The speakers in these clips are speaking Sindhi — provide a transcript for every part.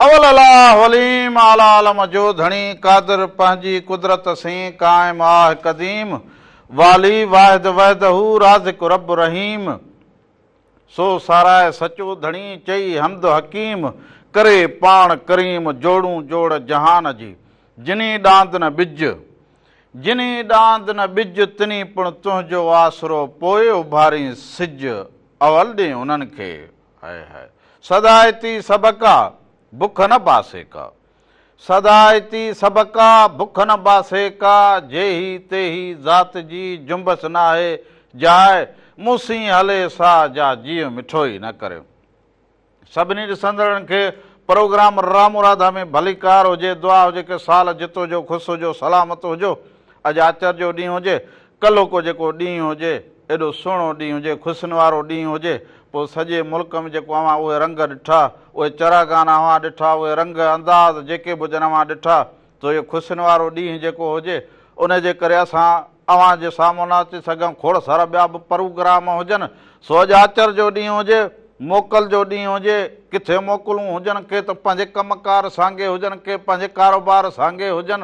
اول الاھ وليم اعليٰ عالم جو ڌڻي قادر پنهنجي قدرت سين قائم آھ قديم والي واحد وحده رازق رب رحيم سو ساراهه سچو ڌڻي چئي حمد حڪيم ڪري پاڻ ڪريم جوڙون جوڙ جهان جي جني ڏاند نه ٻج جني ڏاند نه ٻج تني پڻ تنهنجو آسرو پوء اڀارين سج اول ڏي انهن کي هائي هائي. سدا اتي سڀڪا، بک نه باسي ڪا. سدا اتي سڀڪا، بک نه باسي ڪا. جيهي تيهي ذات جي، جنبش ناهي جاء. مون سين هلي سا، جا جيء مٺو ئي نه ڪريم. سڀني ڏسندڙن کي پروگرام رامو راڌا ۾ ڀليڪار هجي دعا هجي ڪه سال جتو جو خوش هجو سلامت هجو اڄ آچر جو ڏينهن هجي ڪلهه ڪو جيڪو ڏينهن هجي، ايڏو سهڻو ڏينهن هجي، خوشين وارو ڏينهن هجي، پوء سڄي ملڪ ۾ جيڪو اوهان اهي رنگ ڏٺا، اهي چراغانا اوهان ڏٺا، اهي رنگ، انداز جيڪي به هجن اوهان ڏٺا، سو اهو خوشين وارو ڏينهن جيڪو هجي، ان جي ڪري اسان اوهان جي سامهون نه اچي سگهيون، کوڙ سارا ٻيا به پروگرام هجن، سو اڄ آچر جو ڏينهن هجي، موڪل جو ڏينهن هجي، ڪٿي موڪلون هجن، ڪي ته پنهنجي ڪم ڪار سانگي هجن، ڪي پنهنجي ڪاروبار سانگي هجن،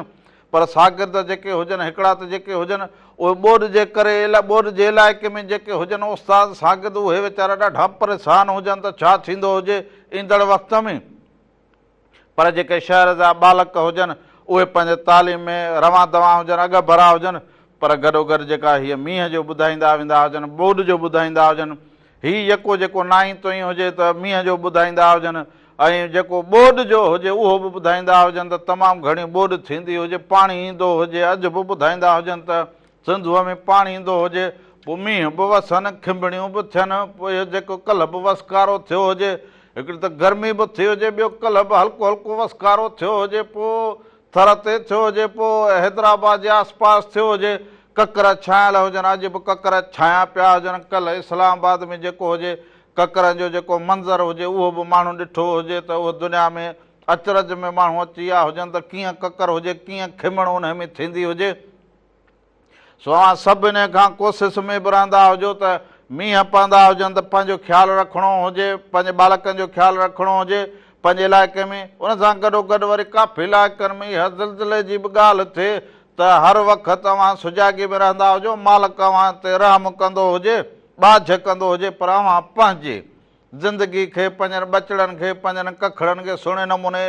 پر شاگرد جيڪي هجن، هڪڙا ته جيڪي هجن، اهي ٻوڏ جي ڪري، ٻوڏ جي علائقي ۾ جيڪي هجن، استاد، شاگرد اهي ويچارا ڏاڍا پريشان هجن ته ڇا ٿيندو هجي ايندڙ وقت ۾! پر جيڪي شهر جا ٻالڪ هجن، اهي پنهنجي تعليم ۾ روان دوان هجن، اڳڀرا هجن، پر گڏوگڏ جيڪا هيء مينهن جو ٻڌائيندا ويندا هجن، ٻوڏ جو ٻڌائيندا هجن، هي يڪو جيڪو نائين توئين هجي ته مينهن جو ٻڌائيندا هجن ۽ جيڪو ٻوڏ جو هجي اهو به ٻڌائيندا هجن ته تمام گهڻي ٻوڏ ٿيندي هجي پاڻي ايندو هجي اڄ به ٻڌائيندا هجن ته سنڌوء ۾ پاڻي ايندو هجي پوء مينهن به وسن کنڀڻيون به ٿين پوء اهو جيڪو ڪلهه به وسڪارو ٿيو هجي هڪڙي ته گرمي به ٿي هجي ٻيو ڪلهه به هلڪو هلڪو وسڪارو ٿيو هجي پوء ٿر تي ٿيو هجي پوء حيدرآباد جي آسپاس ٿيو هجي ڪڪر ڇانيل هجن اڄ به ڪڪر ڇانيا پيا هجن ڪلهه اسلام آباد ۾ جيڪو هجي ڪڪرن جو جيڪو منظر هجي اهو به ماڻهو ڏٺو هجي ته اهو دنيا ۾ اچرج ۾ ماڻهو اچي ويا هجن ته ڪيئن ڪڪر هجي ڪيئن کمڻ انهي ۾ ٿيندي هجي سو اوهان سڀ انهي کان ڪوسس ۾ به رهندا هجو ته مينهن پوندا هجن ته پنهنجو خيال رکڻو هجي پنهنجي ٻالڪن جو خيال رکڻو هجي پنهنجي علائقي ۾ ان سان گڏو گڏ وري ڪافي علائقن ۾ اها زلزلي جي به ڳالهه ٿئي ته هر وقت اوهان سجاڳي ۾ رهندا هجو، مالڪ اوهان تي رحم ڪندو هجي، ٻاجهه ڪندو هجي پر اوهان پنهنجي زندگي کي، پنهنجن ٻچڙن کي، پنهنجن ڪکڙن کي سهڻي نموني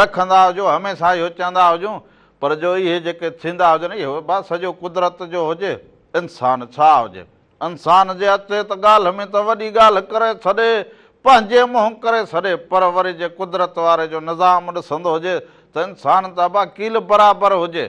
رکندا هجو، هميشه اهو چوندا هجون پر جو اهي جيڪي ٿيندا هجن اهو به سڄو قدرت جو هجي، انسان ڇا هجي. انسان جي اچي ته ڳالهه ۾ ته وڏي ڳالهه ڪري ڇڏي، پنهنجي منهن ڪري ڇڏي، پر وري جي قدرت واري جو نظام ڏسندو هجي ته انسان ته ابا ڪيل برابر هجي،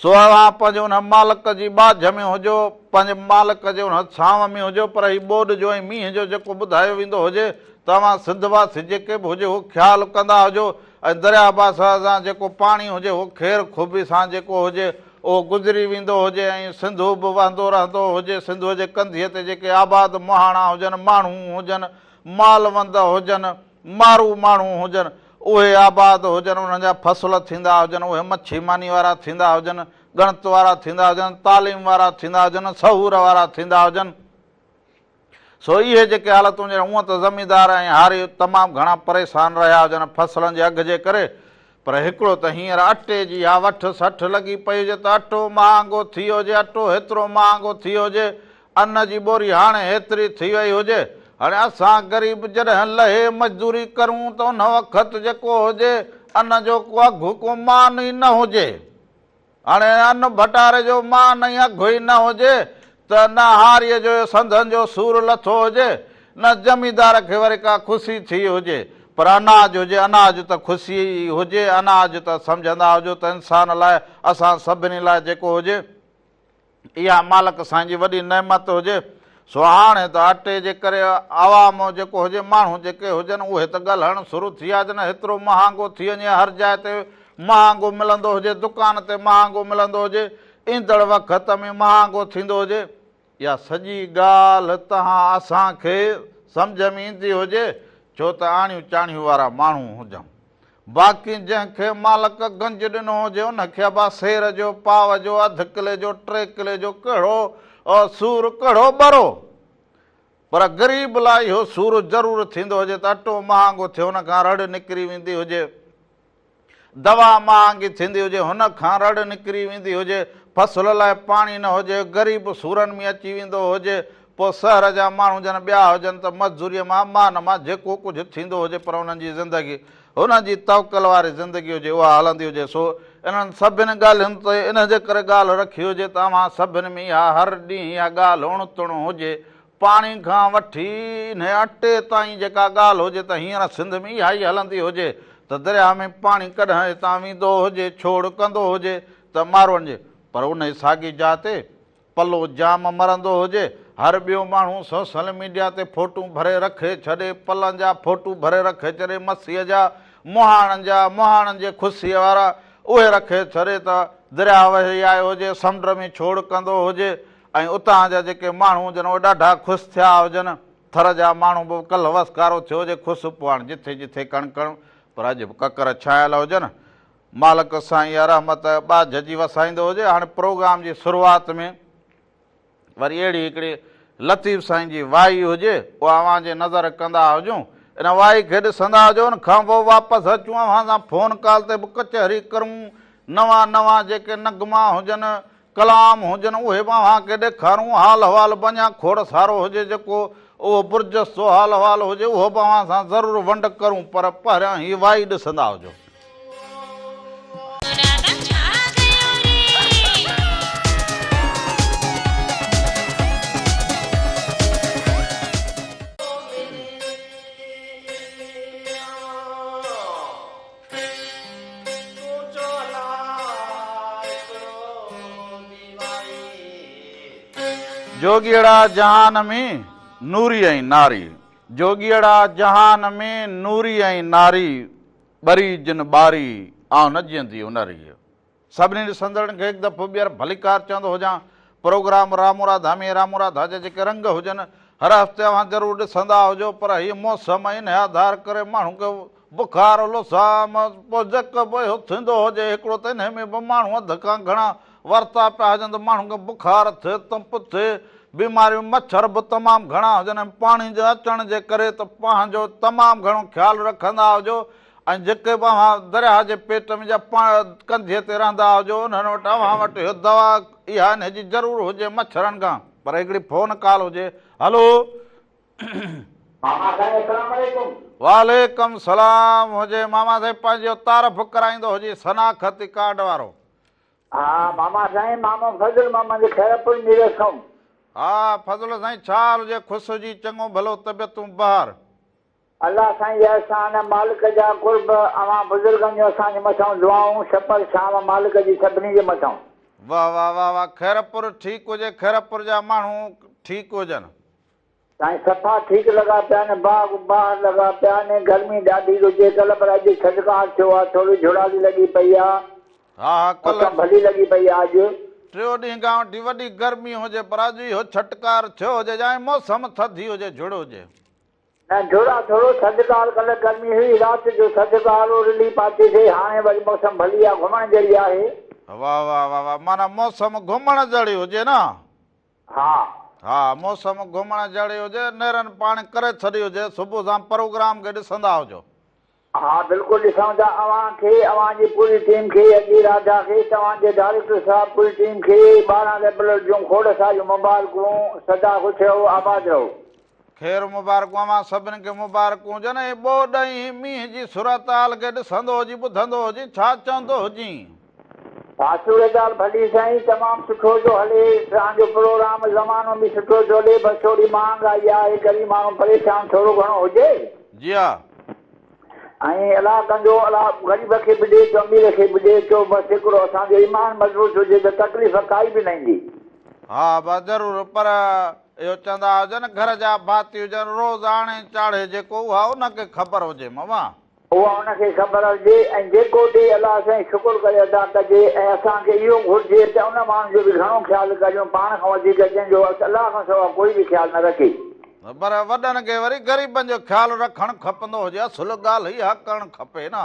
سو اوهان پنهنجي ان مالڪ جي ٻاجهه ۾ هجو، پنهنجي مالڪ جي ان ڇانو ۾ هجو، پر هي ٻوڏ جو ۽ مينهن جو جيڪو ٻڌايو ويندو هجي ته اوهان سنڌ واسي جيڪي به هجي اهو خيال ڪندا هجو ۽ درياهه باسان جيڪو پاڻي هجي اهو خير خوبي سان جيڪو هجي اهو گذري ويندو هجي ۽ سنڌو به وهندو رهندو هجي، سنڌوء جي ڪنڌيء تي جيڪي آباد مهاڻا هجن، ماڻهو هجن، مال وند هجن، مارو ماڻهو هجن، اهي آباد هجن، انهن جا فصل ٿيندا هجن، اهي مڇي ماني وارا ٿيندا هجن، ڳڻت وارا ٿيندا هجن، تعليم وارا ٿيندا هجن، سهور وارا ٿيندا هجن، سو اهي جيڪي حالتون جن اونء ته زميندار ۽ هاري تمام گهڻا پريسان رهيا هجن فصلن جي اگهه جي ڪري پر هڪڙو ته هينئر اٽي جي اها وٺ سٺ لڳي پئي هجي ته اٽو مهانگو ٿي ويو هجي اٽو هيترو مهانگو ٿي ويو هجي ان جي ٻوري هاڻي هيتري ٿي وئي هجي هاڻي اسان غريب جڏهن لهي مزدوري ڪرون ته ان وقت جيڪو هجي ان جو ڪو اگهه ڪو مان ئي نه هجي. هاڻي ان ڀٽاري جو مان نه اگهه ئي نه هجي ته نه هاريء جو اهو سنڌن جو سور لٿو هجي، نه زميندار کي وري ڪا خوشي ٿي هجي، پر اناج هجي اناج ته خوشيء ئي هجي، اناج ته سمجهندا هجو ته انسان لاء، اسان سڀني لاء جيڪو هجي. اها مالڪ سائين جي وڏي نعمت هجي، سو هاڻي ته اٽي جي ڪري عوام جيڪو هجي، ماڻهو جيڪي هجن اهي ته ڳلهڻ سرو ٿي آ جنهن هيترو مهانگو ٿي وڃي هر جاء تي مهانگو ملندو هجي دڪان تي مهانگو ملندو هجي ايندڙ وقت ۾ مهانگو ٿيندو هجي اها سڄي ڳالهه تهان اسان کي سمجهه ۾ ايندي هجي ڇو ته آڻيون چاڻيون وارا ماڻهو هجون. باقي جنهن کي مالڪ گنج ڏنو هجي ان کي با سير جو پاو جو اڌ ڪلي جو ٽي ڪلي جو ڪهڙو سور ڪهڙو ٻرو پر غريب لاء اهو سور ضرور ٿيندو هجي ته اٽو مهانگو ٿيو ان کان رڙ نڪري ويندي هجي دوا مهانگي ٿيندي هجي هن کان رڙ نڪري ويندي هجي فصل لاء پاڻي نه هجي غريب سورن ۾ اچي ويندو هجي پوء شهر جا ماڻهو جن ٻيا هجن ته مزدوريء مان مان مان جيڪو ڪجهه ٿيندو هجي پر انهن جي زندگي هنن جي توڪل واري زندگي هجي اها هلندي هجي سو انهن سڀني ڳالهين تي ان جي ڪري ڳالهه رکي هجي ته اوهان سڀني ۾ اها هر ڏينهن اها ڳالهه اڻ تڻ هجي پاڻي کان وٺي انهي اٽي تائين جيڪا ڳالهه هجي ته هينئر سنڌ ۾ اها ئي هلندي هجي ته درياهه ۾ پاڻي ڪڏهن اتان ويندو هجي ڇوڙ ڪندو هجي ته ماروئن جي پر انهي ساڳي جاء تي پلو جام مرندو هجي، هر ٻيو ماڻهو سوسل ميڊيا تي فوٽون ڀري رکي ڇڏي، پلن جا فوٽو ڀري رکي ڇڏي مسيء جا، مهاڻن جا، مهاڻن جي خوسيء وارا، اهي رکي ڇڏي ته درياء وهي آيو هجي، سمنڊ ۾ ڇوڙ ڪندو هجي ۽ اتان جا جيڪي ماڻهو هجن اهي ڏاڍا خوس ٿيا هجن، ٿر جا ماڻهو به ڪلهه وسڪارو ٿيو هجي خوس پوء هاڻ جٿي جٿي ڪڻ ڪڻ پر اڄ به ڪڪر ڇانيل هجن، مالڪ سائين يا رحمت ٻاجهه جي وسائيندو هجي هاڻي پروگرام جي شروعات ۾ وري اهڙي هڪڙي لطيف سائين جي وائي هجي اها اوهان جي نظر ڪندا هجون ان وائي کي ڏسندا هجو ان کان پوء واپس اچون اوهان سان فون ڪال تي به ڪچهري ڪرون نوان نوان جيڪي نغما هجن ڪلام هجن اهي به اوهان کي ڏيکارون، حال احوال به اڃا کوڙ سارو هجي جيڪو اهو برجستو حال احوال هجي اهو به اوهان سان ضرور ونڊ ڪرون پر پهريان هي وائي ڏسندا هجو. جوڳيئڙا جهان ۾ نوري ۽ ناري. جوڳيئڙا جهان ۾ نوري ۽ ناري، ٻري جن ٻاري، آئون نه جيئندي انري. سڀني ڏسندڙن کي هڪ دفعو ٻيهر ڀليڪار چوندو هجان پروگرام رامورا ڌامي ۽ رامورا ڌاجا جيڪي رنگ هجن هر هفتي اوهان ضرور ڏسندا هجو پر هيء موسم ۽ انهي آڌار ڪري ماڻهو کي بخار لوسام پوء جيڪو به اهو ٿيندو هجي هڪڙو ته انهي ۾ به ماڻهو اڌ کان گهڻا ورتا پيا هجن ته ماڻهن کي بخار ٿئي تپ ٿئي بيماريون مڇر به تمام گهڻا هجن ۽ پاڻي جي اچڻ جي ڪري ته پنهنجو تمام گهڻو خيال رکندا هجو ۽ جيڪي به اوهان درياهه جي پيٽ ۾ يا پاڻ ڪنڌيء تي رهندا هجو، انهن وٽ اوهان وٽ اهو دوا اها انهي جي ضرور هجي مڇرن کان. پر هڪڙي فون ڪال هجي. هلو. ماما سائين اسلام عليڪم. وعليڪم السلام هجي ماما سائين پنهنجي اهو تعرف ڪرائيندو هجي شناختي ڪارڊ وارو. ها ماما سائين مامو فضل مان منجهه خيرپور ميرس ڪوم. ها فضل سائين ڇا حال هجي خوش هجي چڱو ڀلو طبيعتون بهار. الله سائين جي احسان مالڪ جا قرب اوهان بزرگن جون اسان جي مٿئون دعائون سپر ڇانو مالڪ جي سڀني جي مٿئون. واه واه واه واه خيرپور ٺيڪ هجي خيرپور جا ماڻهو ٺيڪ هجن. سائين صفا ٺيڪ لڳا پيا آهن باغ باهر لڳا پيا آهن گرمي ڏاڍي رجي ڪل پر اڄ ٿڌڪار ٿيو آهي ٿوري جھڙالي لڳي پئي آهي ها ها ڪل موسم ڀلي لڳي پئي آهي اڄ. ٽيو ڏينهن کان وٺي وڏي گرمي هجي پر اڄ اهو ڇٽڪار ٿيو هجي جانء موسم ٿڌي هجي جھڙ هجي. نه ڍورا ٿورو ٿڌڪار ڪلهه گرمي هئي رات جو ٿڌڪار هو رلي پاتي سي هاڻي وري موسم ڀلي آ گهمڻ جهڙي آهي. واه واه واه واه معنيٰ موسم گهمڻ جهڙي هجي نه. ها. ها موسم گهمڻ جهڙي هجي نيرن پاڻ ڪري ڇڏي هجي صبح سان پروگرام کي ڏسندا هجو. ها بلڪل ڏسون ٿا اوهان کي اوهان جي پوري ٽيم کي اڳي راجا کي توهان جي ڊائريڪٽر صاحب پوري ٽيم کي ٻارهن ريبلر جون کوڙ ساريون مبارڪون سدا خوش رهو آباد رهو. خير مبارڪون اوهان سڀن کي مبارڪون هجن ۽ ٻوڏ ۽ هي مينهن جي صورتحال کي ڏسندو هجين ٻڌندو هجين ڇا چوندو هجين. آسو اھي ڳالھ ڀلي سائين تمام سٺو ٿو ھلي تان جو پروگرام زمانو به سٺو ٿو ھلي بس ٿوري مھانگ آئي آھي غريب ماڻھو پريشان ٿورو گھڻو ھجي جي ھا. ائين الله ڪندو الله غريب کي به ڏي ٿو امير کي به ڏي ٿو بس ھڪڙو اسان جو ايمان مضبوط ھجي ته تڪليف ڪائي به نه ايندي. ھا بس ضرور پر اھو چوندا ھجن گھر جا ڀاتي ھجن روز آڻي چاڙھي جيڪو اھا ان کي خبر ھجي ماما. اها ان کي خبر هجي ۽ جيڪو ڏئي الله سائين شڪر ڪري ادا ڪجي ۽ اسان کي اهو گهرجي ته ان ماڻهو جو به گهڻو خيال ڪريون پاڻ کان وڌيڪ جنهن جو اس الله کان سوا ڪوئي به خيال نه رکي. پر وڏن کي وري غريبن جو خيال رکڻ کپندو هجي اصل ڳالهه اها ڪرڻ کپي نه.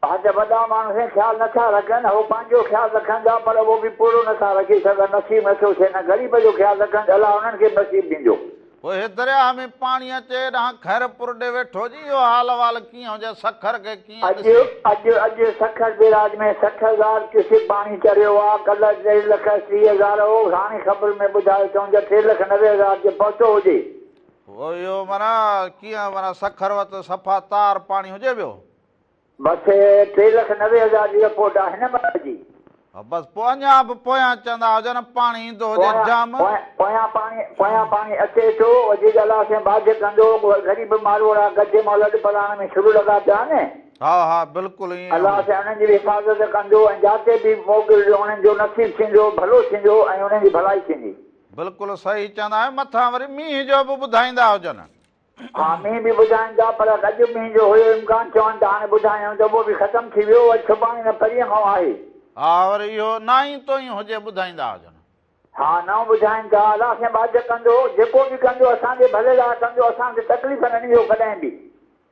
ها ته وڏا ماڻهو سائين خيال نه ٿا رکن هو پنهنجو خيال رکن ٿا پر اهو به پورو نه ٿا رکي سگهن نصيب نه ٿو ٿئي نه غريب جو خيال رکن ته الله انهن کي به نصيب ڏيندو. پوء هي درياهه ۾ پاڻي اچي ڏانهن خير پور ڏي ويٺو جي اهو حال احوال ڪيئن هجي سکر کي ڪيئن اڄ ڏسي. اڄ اڄ سکر بيراج ۾ سٺ هزار ڪيوسڪ پاڻي چڙهيو آ ڪلهه ٽي لک ٽي هزار هو هاڻي خبر ۾ ٻڌايو اٿئون ته ٽي لک نوي هزار تي پهتو هجي. هو اهو معنيٰ ڪيئن معنيٰ سکر وٽ ته صفا تار پاڻي هجي پيو. مٿي ٽي لک نوي هزار جي رپورٽ آ هن ملڪ جي. ها بس پوء اڃان به پويان چوندا هجن پاڻي ايندو هجي پويان جام. پويان پاڻي پويان پاڻي اچي ٿو وجي ڳالهه سين باجه ڪندو غريب ماروئڙا ڳجهه مئل اڏ پلاڻ ۾ شروع لڳا پيا آهن. ها ها بلڪل ائين الله آهي. سائين انهن جي به حفاظت ڪندو ۽ جاتي به موڪل جو انهن جو نصيب ٿيندو ڀلو ٿيندو ۽ انهن جي ڀلائي ٿيندي. بلڪل صحيح چوندا آهيو مٿان وري مينهن جو به ٻڌائيندا هجن. ها مينهن به ٻڌائين ٿا پر رڄ مينهن جو هيو امڪان چون ته هاڻي ٻڌايائون ته اهو به ختم ٿي ويو اڄ سڀاڻي نه پرينء کان آهي. ها ور اهو نائين توئين هجي ٻڌائيندا هجن. ها نئون ٻڌائين ٿا الله سين ٻاجهه ڪندو جيڪو به ڪندو اسان جي ڀلي لاء ڪندو اسان کي تڪليف نه ڏيندو ڪڏهن به.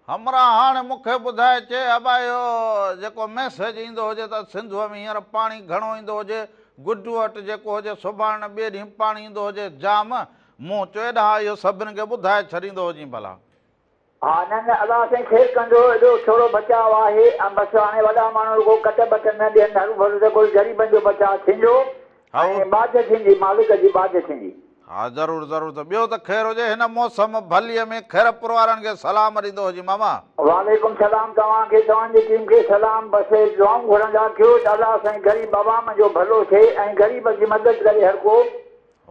همراهه هاڻي مون کي ٻڌائي چي ابا اهو جيڪو ميسيج ايندو هجي ته سنڌوء ۾ هينئر پاڻي گهڻو ايندو هجي گڊوهٽ جيڪو هجي سڀاڻي نه ٻئي ڏينهن پاڻي ايندو هجي جام مون چئو اڏا اهو سڀن کي ٻڌائي ڇڏيندو هجين ڀلا. ها نه نه الله سائين خير ڪندو ايڏو ٿورو بچاء آهي ۽ بس هاڻي وڏا ماڻهو رڳو ڪٽ ٻٽ نه ڏين هروڀرو ته ڪل غريبن جو بچاء ٿيندو هائو. ۽ ٻاجهه ٿيندي مالڪ جي ٻاجهه ٿيندي. ها ضرور ضرور ته ٻيو ته خير هجي هن موسم ڀليء ۾ خيرپور وارن کي سلام ڏيندو هجين ماما. وعليڪم سلام توهان کي توهان جي ٽيم کي سلام بس اهي دعائون گهرندا ڪيو ته الله سائين غريب عوام جو ڀلو ٿئي ۽ غريب جي مدد ڪري هرڪو.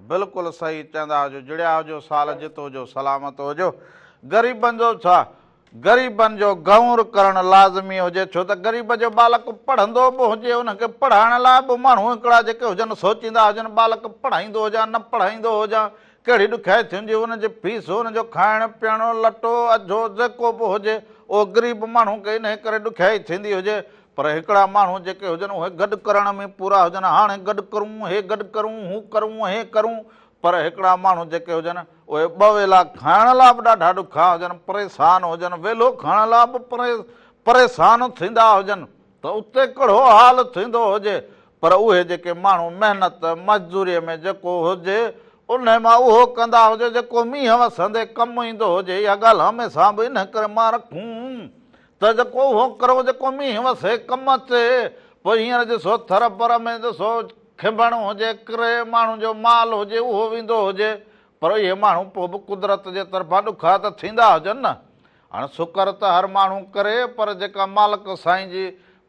بلڪل صحيح چئندا هجو جڙيا هجو سال جت هجو سلامت هجو غريبن جو ڇا غريبن جو غور ڪرڻ لازمي هجي ڇو ته غريب جو ٻالڪ پڙهندو به هجي ان کي پڙهائڻ لاء به ماڻهو هڪڙا جيڪي هجن سوچيندا هجن ٻالڪ پڙهائيندو هجان نه پڙهائيندو هجان ڪهڙي ڏکيائي ٿي هجي ان جي فيس ان جو کائڻ پيئڻ لٽو اجهو جيڪو به هجي اهو غريب ماڻهو کي انهي ڪري ڏکيائي ٿيندي هجي پر هڪڙا ماڻهو جيڪي هجن اهي گڏ ڪرڻ ۾ پورا هجن هاڻي گڏ ڪرون هي گڏ ڪرون هو ڪرون هي ڪرون پر هڪڙا ماڻهو جيڪي هجن اهي ٻه ويلا کائڻ لا به ڏاڍا ڏکيا هجن پريسان هجن ويلو کائڻ لا به پريسان ٿيندا هجن ته اتي ڪهڙو حال ٿيندو هجي پر اهي جيڪي ماڻهو محنت مزدوري ۾ جيڪو هجي انهي مان اهو ڪندا هجي جيڪو مينهن وسندي ڪم ايندو هجي اها ڳالهه هميسان به انهي ڪري مان رکون ته جيڪو اهو ڪرو جيڪو مينهن وسي ڪم اچي، پوء هينئر جي سو ٿر پر ۾ جي سو کنڀڻ هجي، ڪري، ماڻهن جو مال هجي، اهو ويندو هجي، پر اهي ماڻهو پوء به قدرت جي طرفان ڏکا ته ٿيندا هجن نه. هاڻ سڪر ته هر ماڻهو ڪري، پر جيڪا مالڪ سائين جي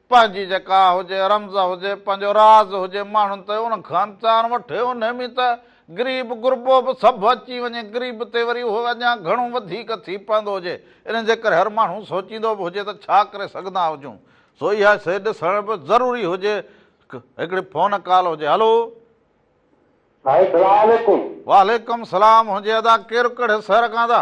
پنهنجي جيڪا هجي رمز هجي، پنهنجو راز هجي ماڻهن تي ان کان چار وٺي انهي ۾ ته غريب غربو به سڀ اچي وڃي غريب تي وري اهو اڃان گهڻو وڌيڪ ٿي پوندو هجي ان جي ڪري هر ماڻهو سوچيندو به هجي ته ڇا ڪري سگهندا هجون سو اها شئي ڏسڻ به ضروري هجي هڪڙي فون ڪال هجي هلو. سائين سلام عليڪم. وعليڪم سلام ھجي ادا ڪير ڪھڙي سھر کان ادا.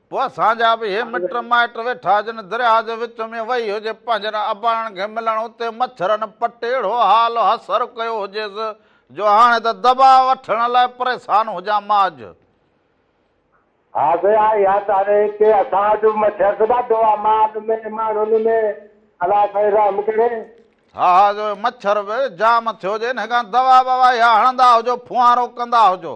پوء اسان جا به اهي مٽ مائٽ ويٺا جن درياء جي وچ ۾ وهي هجي پنهنجن اباڻن کي ملڻ اتي مڇرن پٽ اهڙو حال حسر ڪيو هجيس جو هاڻي ته دٻا وٺڻ لاء پريسان هجان مان اڄ ها سي آء يا تاري ڪي اسان وٽ به مڇر ته ڏاڍو آ مال ۾ ماڻهن ۾ الله سائين رحم ڪري. ها ها جو مڇر به جام ٿيو جي انهي کان دوا بوا اها هڻندا هجو ڦوهارو ڪندا هجو.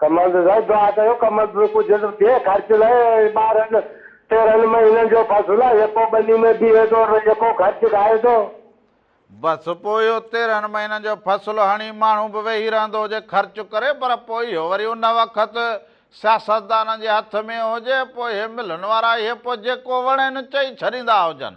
ڪمال ته سائين دعا ڪيو ڪمال ته ڪجهه ته ٿئي خرچ لاء ٻارهن تيرهن مهينن جو فصل آهي يڪو ٻني ۾ بيهي ٿو ته يڪو خرچ کائي ٿو. بس پوء اهو تيرهن مهينن جو فصل هڻي ماڻهو به ويهي رهندو هجي خرچ ڪري پر پوء اهو وري ان وقت سياستدانن جي هٿ ۾ هجي پوء اهي ملن وارا اهي پوء جيڪو وڻين چئي ڇڏيندا هجن.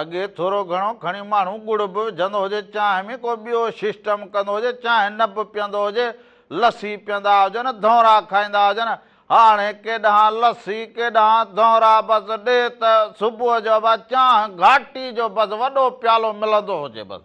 اڳي ٿورو گهڻو کڻي ماڻهو ڳڙ به وجهندو هجي، چانهه ۾ ڪو ٻيو سسٽم ڪندو هجي، چانهه نه به پيئندو هجي، لسي پيئندا هجن، ڌونرا کائيندا هجن، هاڻي ڪيڏانهن لسي، ڪيڏانهن ڌونرا، بس ڏي ته صبح جو به چانهه گهاٽي جو بس وڏو پيالو ملندو هجي بس.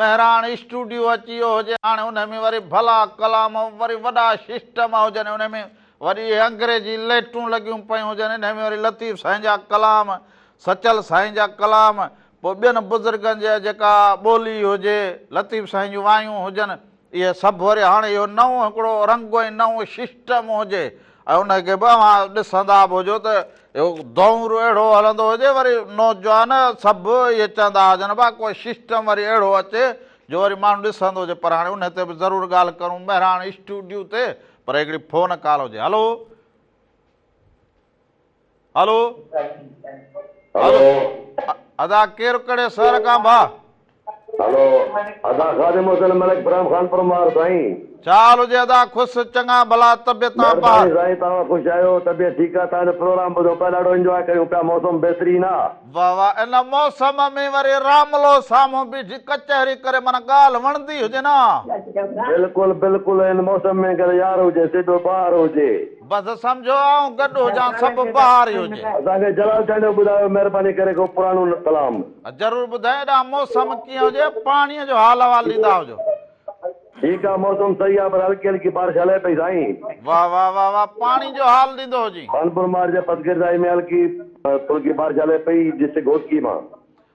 مهراڻ اسٽوڊيو اچي ويو هجي هاڻي انهي ۾ وري ڀلا ڪلام وري وڏا سسٽم هجن انهي ۾ وري اهي انگريزي لئٽون لڳيون پيون هجن انهي ۾ وري لطيف سائين جا ڪلام سچل سائين جا ڪلام پوء ٻين بزرگن جا جيڪا ٻولي هجي لطيف سائين جون وايون هجن اهي سڀ وري هاڻ اهو نئون هڪڙو رنگ ۽ نئون ششٽم هجي ۽ ان کي به اوهان ڏسندا به هجو ته اهو دؤر اهڙو هلندو هجي وري نوجوان سڀ اهي چوندا هجن ڀا ڪو ششٽم وري اهڙو اچي جو وري ماڻهو ڏسندو هجي پر هاڻي ان تي به ضرور ڳالهه ڪرون مهراڻ اسٽوڊيو تي پر هڪڙي فون ڪال هجي هلو هلو هلو ادا ڪير ڪهڙي شهر کان ڀا هلو ادا خادم حسين ملڪ پرام خان پرمار سائين ڇا حال هجي ادا خوش چڱا ڀلا طبيعت تان پاهه مهرباني سائين توهان خوش آهيو طبيعت ٺيڪ آهي توهان جو پروگرام ٻڌون پيا ڏاڍو انجواء ڪيون پيا موسم بهترين آهي واه واه ان موسم ۾ وري راملو سامهون بيٺي ڪچهري ڪري معنيٰ ڳالهه وڻندي هجي نه بلڪل بلڪل ان موسم ۾ گهر يار هجي سي ٻيو ٻاهر هجي. بس سمجهو آئون گڏ هجان سڀ بهار ئي هجي. اسان کي جلال چانڊيو ٻڌايو مهرباني ڪري ڪو پراڻو ڪلام. ضرور ٻڌايو ايڏانهن موسم ڪيئن هجي پاڻي جو حال احوال ڏيندا هجو. ٺيڪ آ موسم صحيح آ پر هلڪي هلڪي بارش هلي پئي سائين. واه واه واه واه پاڻي جو حال ڏيندو هجين. خانپور مارج پسگردائي ۾ هلڪي ڦلڪي بارش هلي پئي ڊسٽرڪٽ گهوٽڪي مان.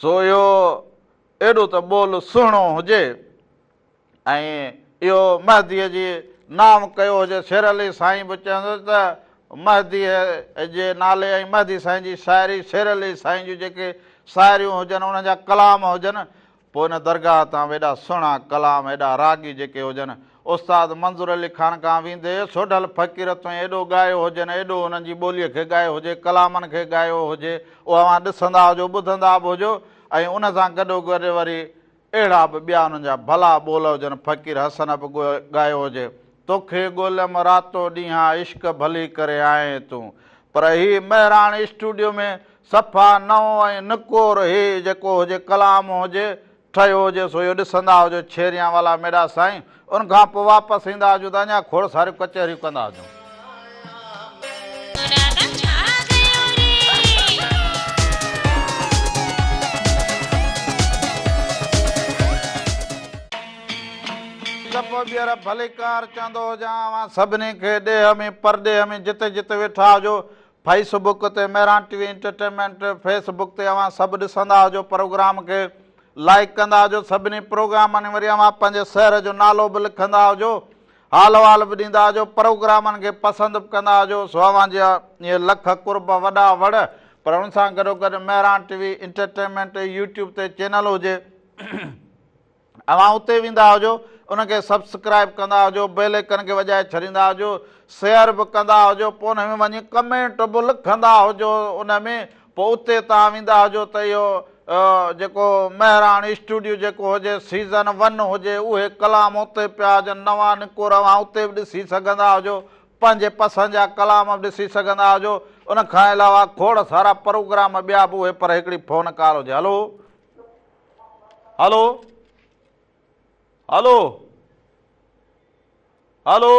سو اهو ايڏو ته ٻول سهڻو هجي ۽ اهو مهديء جي نانء ڪيو هجي. شير علي سائين به چوندو ته مهديء جي نالي ۽ مهدي سائين جي شاعري، شير علي سائين جون جيڪي شاعريون هجن، انهن جا ڪلام هجن، پوء ان درگاهه تان به ايڏا سهڻا ڪلام، ايڏا راڳي جيڪي هجن، استاد منظور علي خان کان ويندي سوڍل فقير توئين ايڏو ڳايو هجين ايڏو انهن جي ٻوليء کي ڳايو هجي ڪلامن کي ڳايو هجي اهو اوهان ڏسندا هجو ٻڌندا به هجو ۽ ان سان گڏو گڏ وري اهڙا به ٻيا انهن جا ڀلا ٻول هجن فقير حسن به ڳايو هجي توکي ڳوليم راتو ڏينهان عشق ڀلي ڪري آئين تون پر هي مهراڻ اسٽوڊيو ۾ صفا نئون ۽ نڪور هي جيڪو هجي ڪلام هجي ٺهيو هجي سو اهو ڏسندا هجو ڇيريان والا ميڏا سائين ان کان پوء واپس ايندا هجون ته اڃا کوڙ ساريون ڪچهريون ڪندا هجون. ته پوء ٻيهر ڀليڪار چوندو هجان اوهان سڀني کي ڏيهه ۾ پرڏيهه ۾ جتي جتي ويٺا هجو فيس بڪ تي Mehran T V entertainment Facebook تي اوهان سڀ ڏسندا هجو پروگرام کي لائيڪ ڪندا هجو سڀني پروگرامن وري اوهان پنهنجي سهر جو نالو به لکندا هجو حال احوال به ڏيندا هجو پروگرامن کي پسند به ڪندا هجو سو اوهان جا اهي لک قرب وڏا وڙ پر ان سان گڏو گڏ Mehran T V entertainment YouTube تي چينل هجي اوهان اتي ويندا هجو ان کي سبسڪرائب ڪندا هجو بيل ايڪن کي وڄائي ڇڏيندا هجو شيئر به ڪندا هجو پوء ان ۾ وڃي ڪمينٽ به لکندا هجو ان ۾ پوء اتي توهان ويندا هجو ته اهو جيڪو مهراڻ اسٽوڊيو جيڪو هجي سيزن ون هجي اهي ڪلام اتي پيا هجن نوان نڪور اوهان اتي به ڏسي سگهندا هجو پنهنجي پسند جا ڪلام به ڏسي سگهندا هجو ان کان علاوه کوڙ سارا پروگرام ٻيا به اهي پر هڪڙي فون ڪال هجي هلو هلو هلو هلو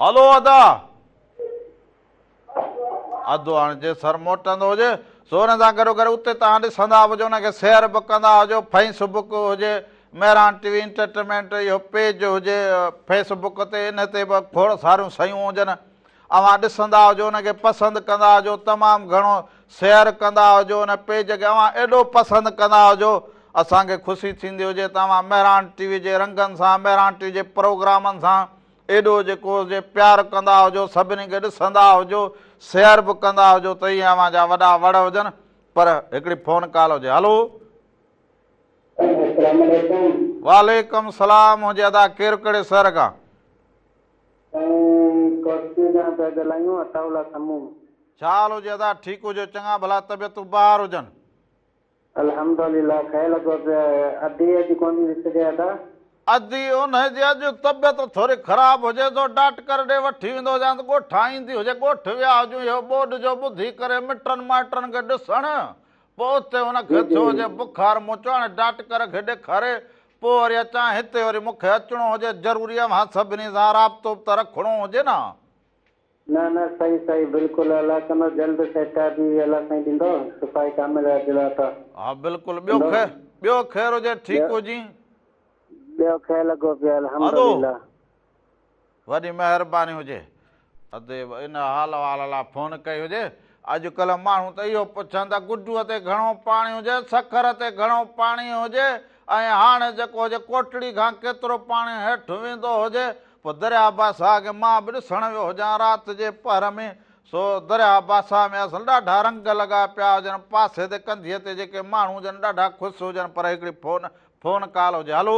هلو ادا ادو هاڻي جي سر موٽندو هجي سورن سان گڏو گڏ اتي تان ڏسندا هجو ان کي سير به ڪندا هجو فيس بڪ هجي مهران ٽي وي انٽرٽينمينٽ اهو پيج هجي فيس بڪ تي ان تي به کوڙ ساريون سيون هجن اوهان ڏسندا هجو ان کي پسند ڪندا هجو تمام گهڻو سيئر ڪندا هجو ان پيج کي اوهان ايڏو پسند ڪندا هجو اسان کي خوشي ٿيندي هجي ته اوهان مهراڻ ٽي وي جي رنگن سان مهراڻ ٽي وي جي پروگرامن سان ايڏو جيڪو جي پيار ڪندا هجو سڀني کي ڏسندا هجو سيئر به ڪندا هجو ته ايئن اوهان جا وڏا وڙ هجن پر هڪڙي فون ڪال هجي هلو السلام عليڪم وعليڪم السلام منهنجي ادا ڪير ڪهڙي شهر کان سائين ڪوسڪي کان پيا ڳالهايون عطاء الله سمون. ڇا حال هجي ادا ٺيڪ هجو چڱا ڀلا طبيعتون بهار هجن. الحمدالله خير لڳو پيو ادي اڄ ڪونهي وسري ادا. ادي انهي جي اڄ طبيعت ٿوري خراب هجي ٿو ڊاٽڪر ڏي وٺي ويندو هجان ته ڳوٺان ايندي هجي ڳوٺ ويا هجون اهو ٻوڏ جو ٻڌي ڪري مٽن مائٽن کي ڏسڻ پوء اتي ان کي ٿيو هجي بخار مون چيو هاڻي ڊاٽڪر کي ڏيکاري پوء وري اچان هتي وري مون کي اچڻو هجي ضروري اوهان سڀني سان رابطو به ته رکڻو هجي نه. نه نه سائين سائين بلڪل الله ڪندو جلد سهڪار به الله سائين ڏيندو شفائي ڪامله عاجله عطا ها بلڪل ٻيو ڪندو ٻيو خير هجي ٺيڪ ٻيو هجين. ٻيو کير لڳو پيو الحمد هلو. لله. وڏي مهرباني هجي ادي ان حال احوال لا فون ڪئي هجي اڄڪلهه ماڻهو ته اهو پڇن ته گڊوء تي گهڻو پاڻي هجي سکر تي گهڻو پاڻي هجي ۽ هاڻي جيڪو هجي ڪوٽڙي کان ڪيترو پاڻي هيٺ ويندو هجي پوء درياء باسا کي مان به ڏسڻ ويو هجان رات جي پهر ۾ سو درياء باسا ۾ اصل ڏاڍا رنگ لڳا پيا هجن پاسي تي ڪنڌيء تي جيڪي ماڻهو هجن ڏاڍا خوش هجن پر هڪڙي فون فون ڪال هجي هلو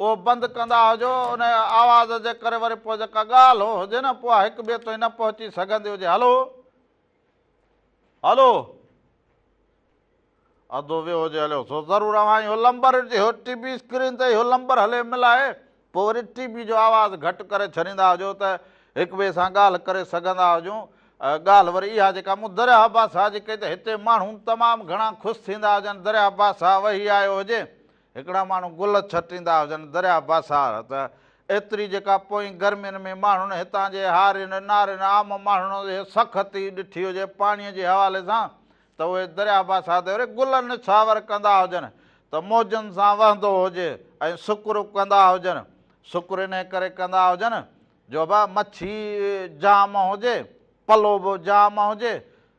اهو بند ڪندا هجو ان آواز جي ڪري وري پوء جيڪا ڳالهه هجي نه پوء هڪ ٻئي تائين نه پهچي سگهندي هجي هلو هلو ادو ويو هجي هليو سو ضرور اوهان اهو لمبر جي هو ٽي وي اسڪرين تي اهو لمبر هلي ملائي پوء وري ٽي وي جو آواز گهٽ ڪري ڇڏيندا هجو ته هڪ ٻئي سان ڳالهه ڪري سگهندا هجون ڳالهه وري اها جيڪا مون درياء باسا جي ڪئي ته هتي ماڻهو تمام گهڻا خوش ٿيندا هجن درياء باسا وهي آيو هجي هڪڙا ماڻهو گل ڇٽيندا هجن درياء باسار ته ايتري جيڪا پوئين گرمين ۾ ماڻهن هتان جي هارين نارين عام ماڻهن جي سخت ئي ڏٺي هجي پاڻيء جي حوالي سان ته اهي درياء باسار تي وري گل نڇاور ڪندا هجن ته موجن سان وهندو هجي ۽ سڪر ڪندا هجن سڪر انهي ڪري ڪندا هجن جو به مڇي جام هجي پلو به جام هجي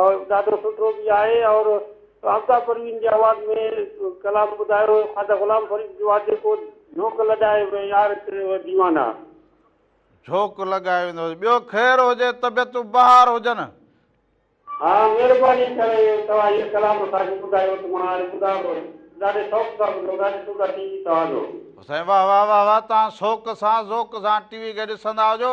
اور ڏاڍو سٺو به آهي اور آفتاب پروين جي آواز ۾ ڪلام ٻڌايو خواجه غلام فريد جو آهي جيڪو جهوڪ لڳائي وين يار ديوانا. جهوڪ لڳائي وين يار. ٻيو خير هجي طبيعتون بهار هجن. ها مهرباني ڪري توهان هي ڪلام اسان کي ٻڌايو ته مان هاڻي ٻڌان ٿو ڏاڍي شوق سان ٻڌو ٿا ڏسو ٿا ٽي وي توهان جو. سائين واه واه واه واه تان سوڪ سان ذوق سان ٽي وي کي ڏسندا هجو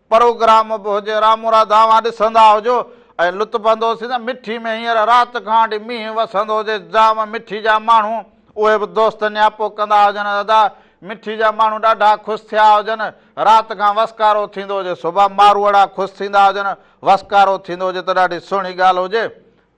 پروگرام به هجي رامورا دانهوان ڏسندا هجو ۽ لطف اندوز ٿيندا مٺي ۾ هينئر رات کان وٺي مينهن وسندو هجي جام مٺي جا ماڻهو اهي به دوست نياپو ڪندا هجن ادا مٺي جا ماڻهو ڏاڍا خوش ٿيا هجن رات کان وسڪارو ٿيندو هجي صبح ماروئڙا خوش ٿيندا هجن وسڪارو ٿيندو هجي ته ڏاڍي سهڻي ڳالهه هجي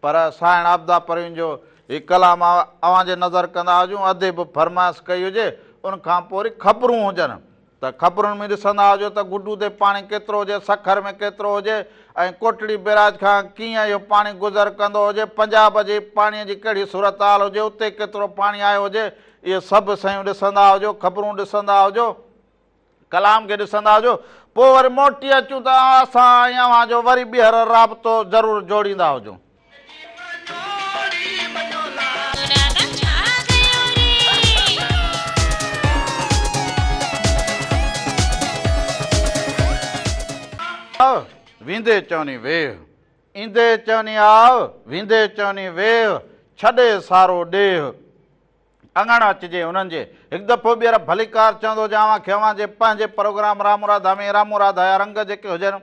پر سائڻ عابده پروين جو هي ڪلام اوهان جي نظر ڪندا هجون ادي به فرمائش ڪئي هجي ان کان پوء وري خبرون هجن ته خبرن ۾ ڏسندا هجو ته گڊو تي پاڻي ڪيترو هجي سکر ۾ ڪيترو هجي ۽ ڪوٽڙي بيراج کان ڪيئن اهو پاڻي گذر ڪندو هجي پنجاب جي پاڻي جي ڪهڙي صورتحال هجي اتي ڪيترو پاڻي آيو هجي اهي سڀ سيون ڏسندا هجو خبرون ڏسندا هجو ڪلام کي ڏسندا هجو پوء وري موٽي اچون ته اسان ۽ اوهان جو وري ٻيهر رابطو ضرور جوڙيندا هجون. آء ويندي چوني ويهه، ايندي چوني آء، ويندي چوني ويهه، ڇڏي سارو ڏيهه. اڱڻ اچجي انهن جي. هڪ دفعو ٻيهر ڀليڪار چوندو جي اوهان کي اوهان جي پنهنجي پروگرام رامراڌا ۾ رامراڌا يا رنگ جيڪي هجن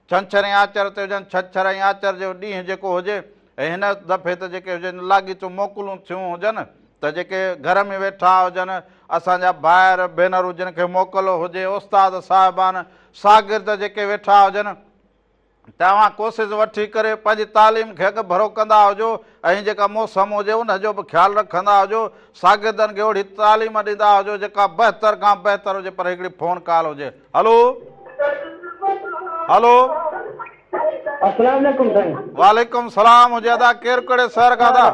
ڇنڇر ۽ آچر تي هجن ڇڇر ۽ آچر جو ڏينهن جيڪو هجي ۽ هن دفعي ته جيڪي هجن لاڳيتو موڪلون ٿيون هجن ته جيڪي گهر ۾ ويٺا هجن اسان جا ڀائر ڀينرون جن کي موڪل هجي استاد صاحبان ساگرد جيڪي ويٺا هجن. ته اوهان ڪوسز وٺي ڪري پنهنجي تعليم کي اڳ ڀرو ڪندا هجو ۽ جيڪا موسم هجي ان جو به خيال رکندا هجو ساگردن کي اوهڙي تعليم ڏيندا هجو جيڪا بهتر کان بهتر هجي پر هڪڙي فون ڪال هجي هلو هلو السلام عليڪم سائين وعليڪم السلام هجي ادا ڪير ڪهڙي شهر کان ادا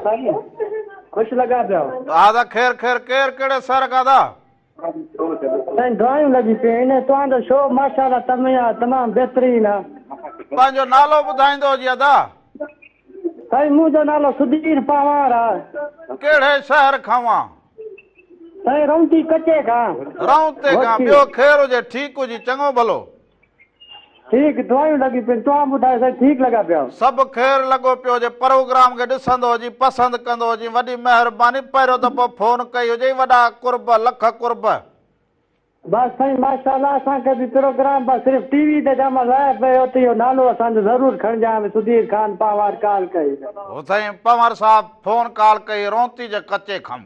خوش لڳا پيو ادا خير خير ڪير ڪهڙي شهر کان ادا سائين دعايون لڳي پيون ان توهانجو شو ماشاءالله تميا تمام بهترين آ. پنهنجو نالو ٻڌائيندو ھجي ادا. سائين منهنجو نالو سڌير پنهوار آ. ڪهڙي شهر کانوان. سائين رونتي ڪچي کان. رونتي کان ٻيو خير هجي ٺيڪ هجي چڱو ڀلو. ٺيڪ دعايون لڳيون پين توهان ٻڌايو سائين ٺيڪ لڳا پيا. سڀ خير لڳو پيو هجي پروگرام کي ڏسندو هجين پسند ڪندو هجين وڏي مهرباني پهريون دفعو فون ڪئي هجئي وڏا قرب لک قرب. بس سائين ماشاءالله اسان کي به پروگرام با صرف ٽي وي تي جا مزا آيا پئي اتي اهو نالو اسان جو ضرور کڻجان به سڌير خان پنهوار ڪال ڪئي. هو سائين پنهور صاحب فون ڪال ڪئي رونتي جي ڪچي کم.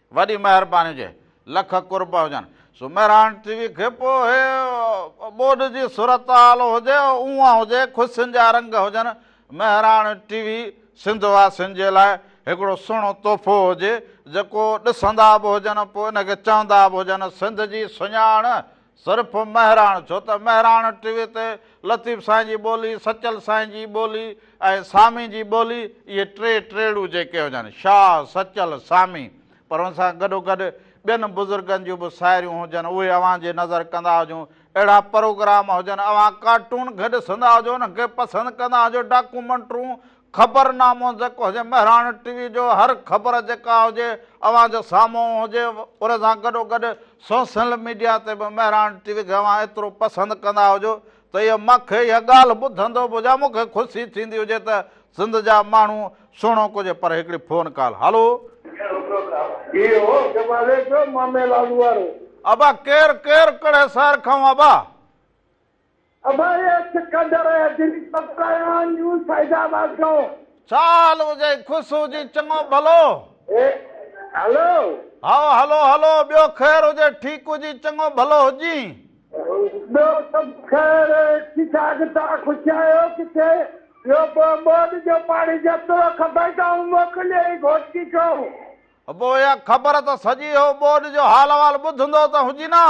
وڏي مهرباني هجي لک قرب هجن. سومهراڻ ٽي وي کي پوء هي ٻوڏ جي صورتحال هجي اونهان هجي خوشين جا رنگ هجن مهراڻ ٽي وي سنڌ واسين جي لاء هڪڙو سهڻو تحفو هجي جيڪو ڏسندا به هجن پوء ان کي چوندا به هجن سنڌ جي سڃاڻ صرف مهراڻ ڇو ته مهراڻ ٽي وي تي لطيف سائين جي ٻولي، سچل سائين جي ٻولي ۽ سامي جي ٻولي اهي ٽي ٽيڙو جيڪي هجن شاهه، سچل، سامي پر ان سان گڏوگڏ ٻين بزرگن جون به ساهريون هجن اهي اوهان جي نظر ڪندا هجون اهڙا پروگرام هجن اوهان ڪارٽون گڏ سندا هجو انهن کي پسند ڪندا هجو ڊاڪومنٽرون خبرنامو جيڪو هجي مهراڻ ٽي وي جو هر خبر جيڪا هجي اوهان جي سامهون هجي ان سان گڏو گڏ سوسل ميڊيا تي به مهراڻ ٽي وي کي اوهان ايترو پسند ڪندا هجو ته اهي مان کي اها ڳالهه ٻڌندو به هجان مون کي خوشي ٿيندي هجي ته سنڌ جا ماڻهو سهڻو ڪجي پر هڪڙي فون ڪال هلو. هي هو جمالي جو مامي لالو وارو. ابا ڪير ڪير ڪھڙي شھر کان ابا. ابايس قدر جن پترايان نيوز فيض آباد کان. ڇا حال هجي خوش هجين چڱو ڀلو. اي هلو. هائو هلو هلو ٻيو خير هجي ٺيڪ هجين چڱو ڀلو هجين. ٻيو سڀ خير ٺيڪ ٺاڪ توهان خوش آهيو ڪٿي ٻيو پوء ٻوڏ جو پاڻي جيترو کپي تائون موڪليو ئي گهوٽڪي کان. ابو اها خبر ته سڄي هو ٻوڏ جو حال احوال ٻڌندو ته هجين ها.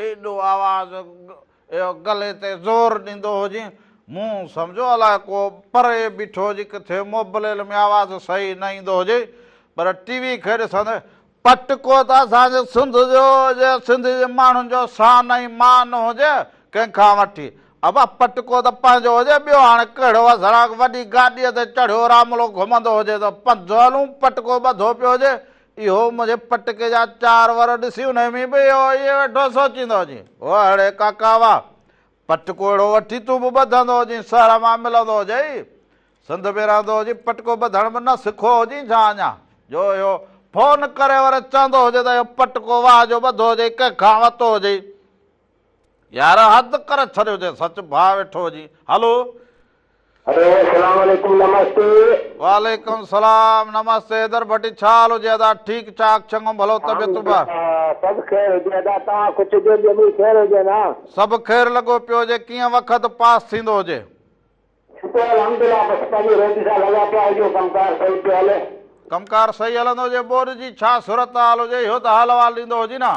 ايڏو آواز گلي تي زور ڏيندو هو جيئن مون سمجهيو الاء ڪو پري بيٺو هجي ڪٿي موبليل ۾ آواز صحيح نه ايندو هجي پر ٽي وي کي ڏسندي پٽڪو ته اسان جي سنڌ جو هجي سنڌ جي ماڻهن جو شان ۽ مان هجي ڪنهن کان وٺي ابا پٽڪو ته پنهنجو هجي ٻيو هاڻي ڪهڙو اسراغ وڏي گاڏي تي چڙهيو راملو گهمندو هجي ته پنڌ هلون پٽڪو ٻڌو پيو هجي اهو منهنجي پٽڪي جا چار ور ڏسي انهي ۾ به اهو ئي ويٺو سوچيندو هجين. او هڙي ڪاڪا واهه! پٽڪو اهڙو وٺي تون به ٻڌندو هجين، سهر مان ملندو هجئي. سنڌ ۾ رهندو هجين، پٽڪو ٻڌڻ به نه سکو هجين ڇا اڃا، جو اهو فون ڪري ور چوندو هجئي ته اهو پٽڪو واهه جو ٻڌو هجئي، ڪنهن کان ورتو هجئي. يار حد ڪري ڇڏيو ٿي سچ ڀاء ويٺو ھجين ھلو. ھلو اسلام عليڪم نمستي. وعليڪم السلام نمستي حيدر ڀٽي ڇا حال ھجي ادا ٺيڪ ٺاڪ چڱو ڀلو طبيعتون ڀا. سڀ خير ھجي ادا توھان خوش ھجو ٻيو به خير ھجي نا. سڀ خير لڳو پيو ھجي ڪيئن وقت پاس ٿيندو ھجي. شڪر الحمدلله بس پنھنجي روٽي سان لڳا پيا ھجو ڪم ڪار صحيح پيو ھلي. ڪم ڪار صحيح ھلندو ھجي ٻوڏ جي ڇا صورت حال ھجي اھو ته حال احوال ڏيندو ھجين ھا.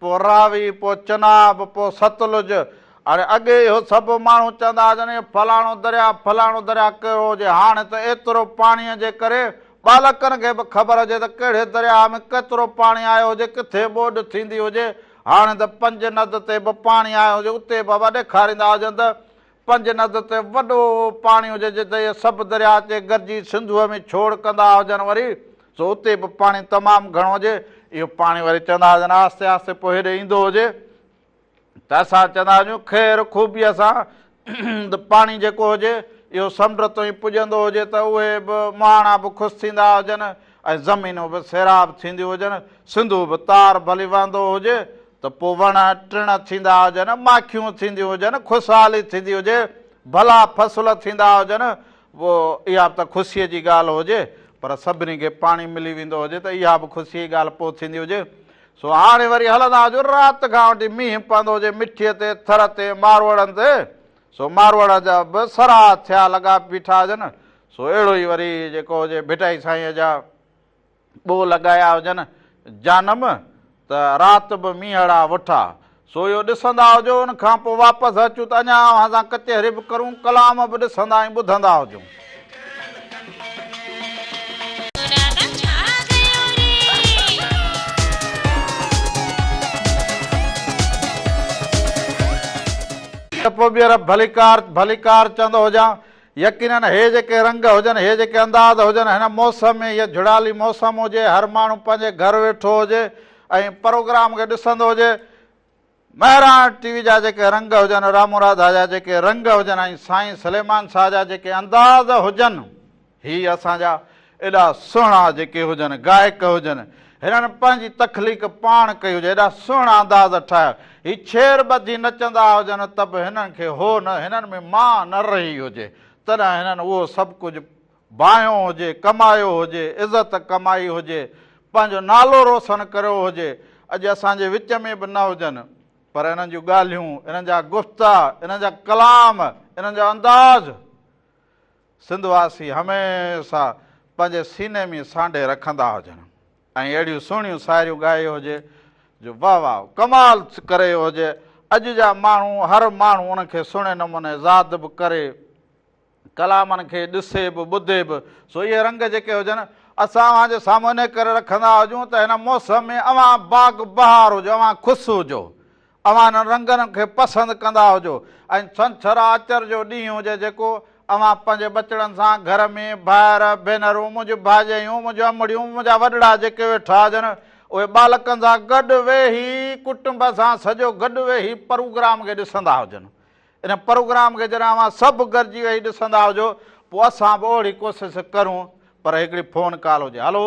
پوء راوي، پوء چناب، پوء ستلج. هاڻي اڳي اهو سڀ ماڻهو چوندا هئا جن اهو فلاڻو درياء، فلاڻو درياء ڪهڙو هجي. هاڻي ته ايترو پاڻيء جي ڪري ٻالڪن کي به خبر هجي ته ڪهڙي درياء ۾ ڪيترو پاڻي آيو هجي، ڪٿي ٻوڏ ٿيندي هجي. هاڻي ته پنج ند تي به پاڻي آيو هجي اتي به اهو ڏيکاريندا هجن ته پنج ند تي وڏو پاڻي هجي جتي اهي سڀ درياء اچي گڏجي سنڌوء ۾ ڇوڙ ڪندا هجن وري سو اتي به پاڻي تمام گهڻو هجي اهو پاڻي وري چوندا هجن آهستي آهستي پوء هيڏي ايندو هجي ته اسان چوندا هجون خير خوبيء سان پاڻي جيڪو هجي اهو سمنڊ تائين پڄندو هجي ته اهي به مهاڻا به خوش ٿيندا هجن ۽ زمينون به سيراب ٿينديون هجن سنڌو به تار ڀلي وهندو هجي ته پوء وڻ ٽڻ ٿيندا هجن، ماکيون ٿينديون هجن، خوشحالي ٿيندي هجي، ڀلا فصل ٿيندا هجن، پوء اها به ته خوشيء جي ڳالهه هجي، پر سڀني کي پاڻي ملي ويندو هجي ته اها به خوشيء جي ڳالهه پوء ٿيندي هجي. سو هاڻي وري هلندا هجون رات کان وٺي مينهن پوندو هجي مٺيء تي، ٿر تي، ماروئڙن تي، سو ماروئڙ جا به سرها ٿيا لڳا بيٺا هجن، سو اهڙو ئي وري جيڪو هجي ڀٽائي سائينء جا. ٻوء لڳايا هجن جانم ته رات به مينهڙا وٺا سويو ڏسندا هجو ان کان پوء واپس اچون ته اڃا اوهان سان ڪچهري به ڪرون ڪلام به ڏسندا ۽ ٻڌندا هجون ته پوء ٻيهر ڀليڪار ڀليڪار چوندو هجان. يقينن هي جيڪي رنگ هجن، هي جيڪي انداز هجن، هن موسم ۾ هيء جھڙالي موسم هجي، هر ماڻهو پنهنجي گھر ويٺو هجي ۽ پروگرام کي ڏسندو هجي، مهراڻ ٽي وي جا جيڪي رنگ هجن، رامو راڌا جا جيڪي رنگ هجن ۽ سائين سليمان شاهه جا جيڪي انداز هجن، هي اسان جا. ايڏا سهڻا جيڪي هجن گائڪ هجن هنن پنهنجي تخليق پاڻ ڪئي هجي ايڏا سهڻا انداز ٺاهيا هي ڇير ٻڌي نچندا هجن ته به هنن کي هو نه هنن ۾ ماء نه رهي هجي تڏهن هنن اهو سڀ ڪجهه باهيون هجي ڪمايو هجي عزت ڪمائي هجي پنهنجو نالو روسن ڪريو هجي اڄ اسان جي وچ ۾ به نه هجن پر انهن جون ڳالهيون انهن جا گفتا انهن جا ڪلام انهن جو انداز سنڌ واسي هميشه پنهنجي سيني ۾ سانڍي رکندا هجن ۽ اهڙيون سهڻيون ساعريون ڳائي هجي جو واه واه ڪمال ڪري هجي اڄ جا ماڻهو هر ماڻهو ان کي سهڻي نموني زاد به ڪري ڪلامن کي ڏسي به ٻڌي به سو اهي رنگ جيڪي هجن اسان اوهان جي سامهون انهي ڪري رکندا هجون ته هن موسم ۾ اوهان باغ بهار هجو اوهان خوش هجو اوهان انهن رنگن کي پسند ڪندا هجو ۽ ڇنڇر آچر جو ڏينهن هجي جيڪو اوهان پنهنجي ٻچڙن سان گهر ۾ ڀائر، ڀينرون، منهنجون ڀاڄايون، منهنجون امڙيون، منهنجا وڏڙا جيڪي ويٺا هجن اهي ٻالڪن سان گڏ ويهي ڪٽنب سان سڄو گڏ ويهي پروگرام کي ڏسندا هجن. ان پروگرام کي جڏهن اوهان سڀ گڏجي ويهي ڏسندا هجو پوء اسان به اهڙي ڪوشش ڪرون پر هڪڙي فون ڪال هجي. هلو.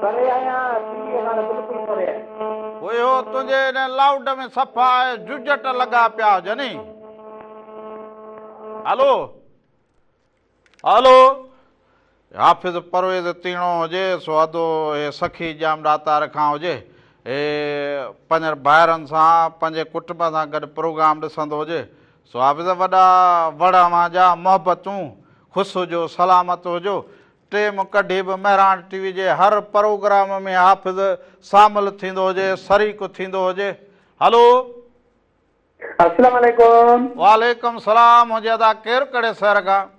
پري آهيان سنڌي کان ته بلڪل پري آهيان. هوء هو تنهنجي ان لائوڊ ۾ صفا ججٽ لڳا پيا هجن. هلو هلو حافظ پرويز تيڻو هجي سو ادو هي سخي ڄام ڏاتار کان هجي هي پنهنجن ڀائرن سان پنهنجي ڪٽنب سان گڏ پروگرام ڏسندو هجي سو حافظ وڏا وڙ اوهان جا محبتون خوش هجو سلامت هجو ٽيم ڪڍي به مهراڻ ٽي وي جي هر پروگرام ۾ حافظ سامل ٿيندو هجي سريڪ ٿيندو هجي هلو. السلام عليڪم. وعليڪم السلام هجي ادا ڪير ڪهڙي سهر کان.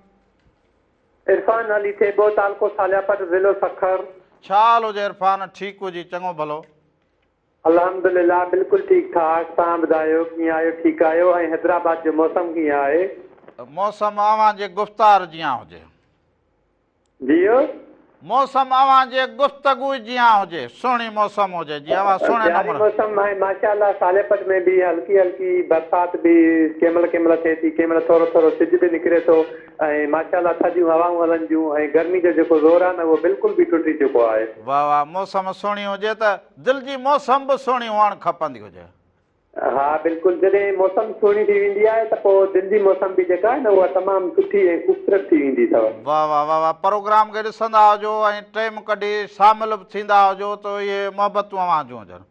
عرفان نالي ٿيٻو تعلقو سالياپٽ ضلعو سکر. ڇا حال هجي عرفان ٺيڪ هجي چڱو ڀلو. الحمدلله بلڪل ٺيڪ ٺاڪ توهان ٻڌايو ڪيئن آهيو ٺيڪ آهيو ۽ حيدرآباد جو موسم ڪيئن آهي. موسم اوهان جي گفتار جيان هجي. جيئو. موسم اوهان جي گفتگو ئي جيان هجي. سهڻي موسم هجي جي اوهان سهڻي نمر. سياري موسم آهي ماشاء الله سالي پٽ ۾ به هلڪي هلڪي برسات به ڪنهن مهل ڪنهن مهل ٿئي ٿي ڪنهن مهل ٿورو ٿورو سج به نڪري ٿو ۽ ماشاء الله ٿڌيون هوائون هلن ٿيون ۽ گرمي جو جيڪو زور آهي نه اهو بلڪل به ٽٽي چڪو آهي. واهه واهه موسم سهڻي هجي ته دل جي موسم به سهڻي هئڻ کپندي هجي. ها بلڪل جڏهن موسم سهڻي ٿي ويندي آهي ته پوء دل جي موسم به جيڪا آهي نه اها تمام سٺي ۽ خوبصورت ٿي ويندي اٿو. واه واه واه واه پروگرام کي ڏسندا هجو ۽ ٽيم ڪڍي شامل به ٿيندا هجو ته اهي محبتون اوهان جون هجن.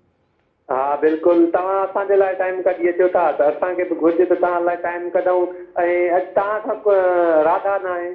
ها بلڪل توهان اسان جي لاء ٽائيم ڪڍي اچو ٿا ته اسان کي به گهرجي ته توهان لاء ٽائيم ڪڍون ۽ اڄ توهان کان راڌا ناهي.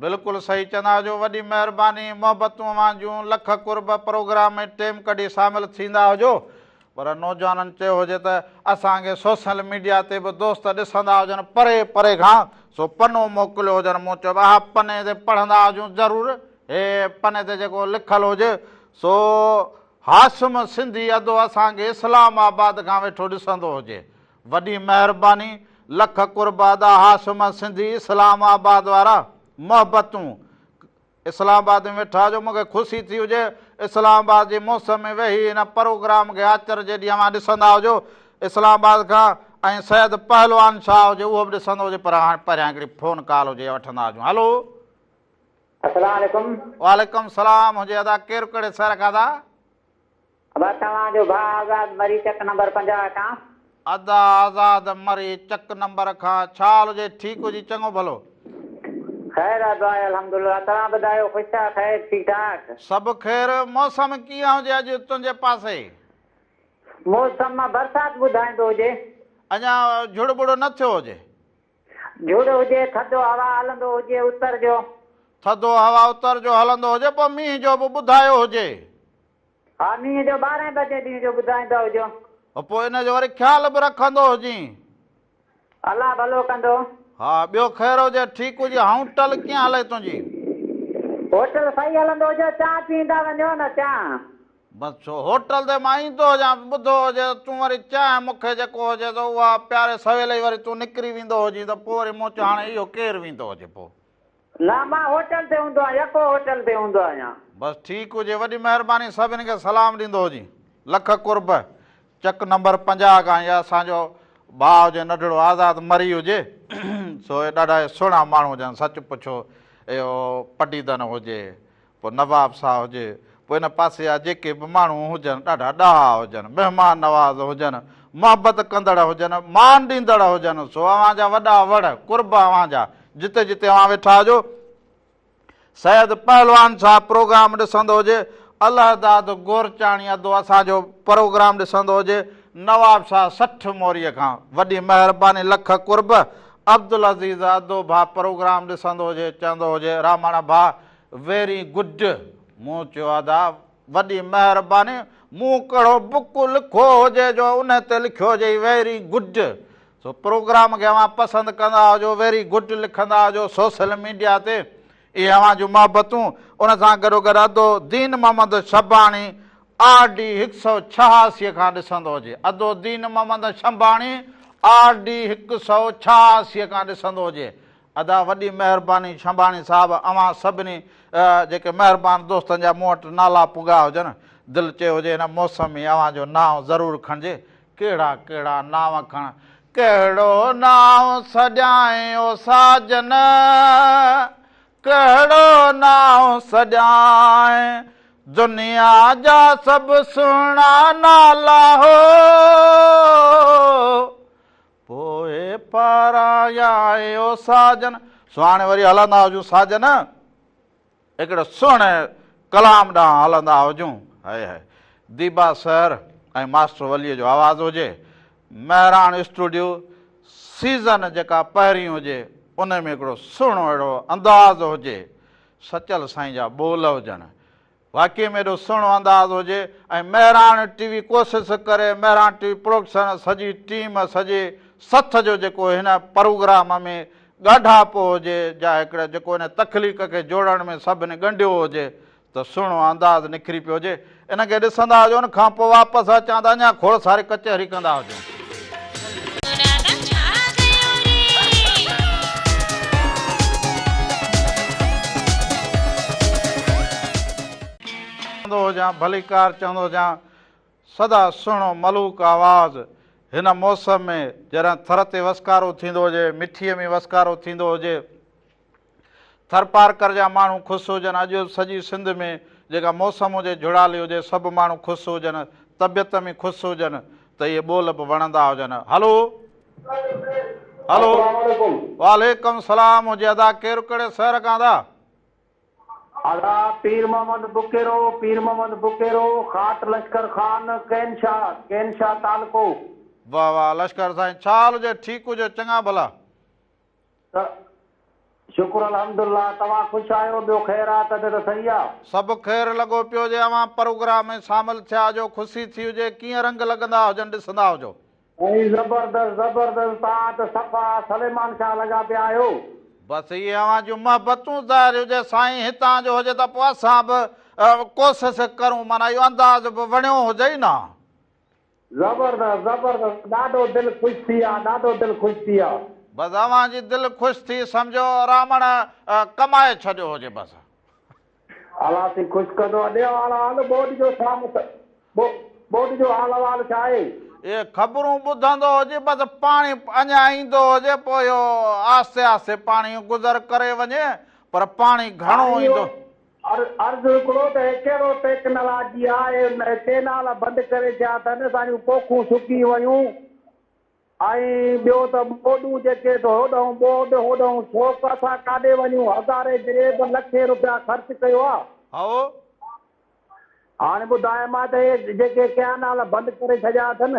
بلڪل صحيح چنا جو وڏي مهرباني محبتون اوهان جون لک قرب پروگرام ۾ ٽيم ڪڍي شامل ٿيندا هجو پر نوجوانن چيو هجي ته اسان کي سوشل ميڊيا تي به دوست ڏسندا هجن پري پري کان سو پنو موڪليو هجن مون چيو اها پني تي پڙهندا هجون ضرور هي پني تي جيڪو لکل هجي سو هاشم سنڌي ادو اسان کي اسلام آباد کان ويٺو ڏسندو هجي وڏي مهرباني لک قرب ادا هاشم سنڌي اسلام آباد وارا محبتون اسلام آباد ۾ ويٺا جو مونکي خوشي ٿي هجي اسلام آباد جي موسم ۾ ويهي ان پروگرام کي آچر جي ڏينهن اوهان ڏسندا هجو اسلام آباد کان ۽ سيد پهلوان شاهه هجي اهو به ڏسندو هجي پر هاڻ پهريان هڪڙي فون ڪال هجي وٺندا هجون هلو السلام عليڪم وعليڪم السلام هجي ادا ڪير ڪهڙي شهر کان ادا. ادا توهان جو ڀاء آزاد مري چڪ نمبر پنجاهه کان. ادا آزاد مري چڪ نمبر کان ڇا حال هجي ٺيڪ هجي چڱو ڀلو. خير آ دعا آهي الحمدالله توهان ٻڌايو خوش آ خير ٺيڪ ٺاڪ. سڀ خير موسم ڪيئن هجي اڄ تنهنجي پاسي. موسم برسات ٻڌائيندو هجي. اڃا جھڙ ٻڙ نه ٿيو هجي. جھڙو هجي ٿڌو هوا هلندو هجي اتر جو. ٿڌو هوا اتر جو هلندو هجي پوء مينهن جو به ٻڌايو هجي. ها مينهن جو ٻارهين بجي ڏينهن جو ٻڌائيندا هجو. ها پوء ان جو وري خيال به رکندو هجين. الله ڀلو ڪندو. ها ٻيو خير هجي ٺيڪ هجي هائوٽل ڪيئن هلئي تنهنجي. هوٽل صحيح هلندو هجي چانهه پيئندا وڃو نه چانهه. بس ڇو هوٽل تي مان ايندو هجان ته ٻڌو هجي ته تون وري چانهه مون کي جيڪو هجي ته اها پياري سويل ئي وري تون نڪري ويندو هجين ته پوء وري مون چيو هاڻي اهو ڪير ويندو هجي پوء. نه مان هوٽل تي هوندو آهيان يڪو هوٽل تي هوندو آهيان. بس ٺيڪ هجي وڏي مهرباني سڀني کي سلام ڏيندو هجين لک قرب چڪ نمبر پنجاهه کان اهي اسان جو ڀاء هجي نڍڙو آزاد مري هجي سو اهي ڏاڍا ئي سهڻا ماڻهو هجن سچ پڇو اهو پڊيدن هجي پوء نواب ساهه هجي، پوء ان پاسي جا جيڪي به ماڻهو هجن، ڏاڍا ڏاها هجن، مهمان نواز هجن، محبت ڪندڙ هجن، مان ڏيندڙ هجن، سو اوهان جا وڏا وڙ، قرب اوهان جا، جتي جتي اوهان ويٺا هجو. سيد پهلوان صاحب پروگرام ڏسندو هجي، الهداد گورچاڻي ادو اسان جو پروگرام ڏسندو هجي، نواب ساهه سٺ موريء کان، وڏي مهرباني، لک قرب، عبدالعزيز ادو ڀا پروگرام ڏسندو هجي، چوندو هجي، راماڻا ڀا، ويري گڊ، مون چيو ادا وڏي مهرباني، مون ڪهڙو بڪ لکو هجي جو ان تي لکيو هجئي ويري گڊ، سو پروگرام کي اوهان پسند ڪندا هجو ويري گڊ لکندا هجو سوسل ميڊيا تي، اهي اوهان جون محبتون، ان سان گڏوگڏ ادو دين محمد شباڻي آر ڊي هڪ سؤ ڇهاسي کان ڏسندو هجي ادو دين محمد شباڻي آر ڊي هڪ سؤ ڇهاسي کان ڏسندو هجي ادا وڏي مهرباني ڇنڀاڻي صاحب اوهان سڀني جيڪي مهربان دوستن جا مون وٽ نالا پڳا هجن دل چيو هجي هن موسم ۾ اوهان جو نانء ضرور کڻجي ڪهڙا ڪهڙا نانء کڻ ڪهڙو نانء سڏيائين او ساجن ڪهڙو نانء سڏيائين دنيا جا سڀ سهڻا نالا هو پوء پارايا اي او ساجن. سو هاڻي وري هلندا هجون ساجن هڪڙي سهڻي ڪلام ڏانهن هلندا هجون. Hi hi. Deeba sir ۽ master Wali جو آواز هجي. مهراڻ اسٽوڊيو سيزن جيڪا پهرين هجي انهي ۾ هڪڙو سهڻو اهڙو انداز هجي. سچل سائين جا ٻول هجن. واقعي ۾ ايڏو سهڻو انداز هجي ۽ مهراڻ ٽي وي ڪوسس ڪري مهراڻ ٽي وي پروڊڪشن سڄي ٽيم سڄي سٿ جو جيڪو هن پروگرام ۾ ڳاڍاپو هجي جا هڪڙي جيڪو هن تخليق کي جوڙڻ ۾ سڀني ڳنڍيو هجي ته سهڻو انداز نکري پيو هجي ان کي ڏسندا هجون کان پوء واپس اچان ته اڃا کوڙ ساري ڪچهري ڪندا هجون. چوندو هجان ڀليڪار چوندو هجان سدا سهڻو ملوڪ آواز هن موسم ۾ جڏهن ٿر تي وسڪارو ٿيندو هجي مٺيء ۾ وسڪارو ٿيندو هجي ٿرپارڪر جا ماڻهو خوس هجن اڄ سڄي سنڌ ۾ جيڪا موسم هجي جھڙالي هجي سڀ ماڻهو خوس هجن طبيعت ۾ خوس هجن ته اهي ٻول به وڻندا هجن هلو هلو وعليڪم سلام هجي ادا ڪير ڪهڙي سهر کان ادا ادا پير محمد بڪيرو پير محمد بڪيرو خاٽ لشڪر خان ڪين شاھ ڪين شاھ تعلقو واھ واھ لشڪر سائين ڇا حال هجي ٺيڪ هجو چڱا ڀلا. ته شڪر الحمد الله توهان خوش آهيو ٻيو خير آ تڏهن ته سهي آ. سڀ خير لڳو پيو جي اوهان پروگرام ۾ شامل ٿيا جو خوشي ٿي هجي ڪيئن رنگ لڳندا هجن ڏسندا هجو. سائين زبردست زبردست توهان ته صفا سليمان شاهه لڳا پيا آهيو. بس اهي اوهان جون محبتون ظاهر هجي سائين هتان جو هجي ته پوء اسان به ڪوسس ڪرون معنيٰ اهو انداز به وڻيو هجئي نه. زبردست زبردست ڏاڍو دل خوش ٿي آ ڏاڍو دل خوش ٿي آ. بس اوهان جي دل خوش ٿي سمجهو رامڻ ڪمائي ڇڏيو هجي بس. الا سين خوش ڪندو اڏي آلا هل ٻوڏ جو ڇا مت ٻوڏ جو حال احوال ڇا آهي. اهي خبرون ٻڌندو هجي بس پاڻي اڃا ايندو هجي پوء اهو آهستي آهستي پاڻي گذر ڪري وڃي پر پاڻي گهڻو ايندو. عرض هڪڙو ته هي ڪهڙو ٽيڪنالاجي آهي ڪينال بند ڪري ڇا ته نه اسانجون پوکون سڪي ويون ۽ ٻيو ته ٻوڏون جيڪي ته هوڏانهن ٻوڏ هوڏانهن سوڪ اسان ڪاڏي وڃون هزارين جريب لکين روپيا خرچ ڪيو آ هائو. هاڻي ٻڌايم آ ته هي جيڪي ڪيانال بند ڪري ڇڏيا اٿن.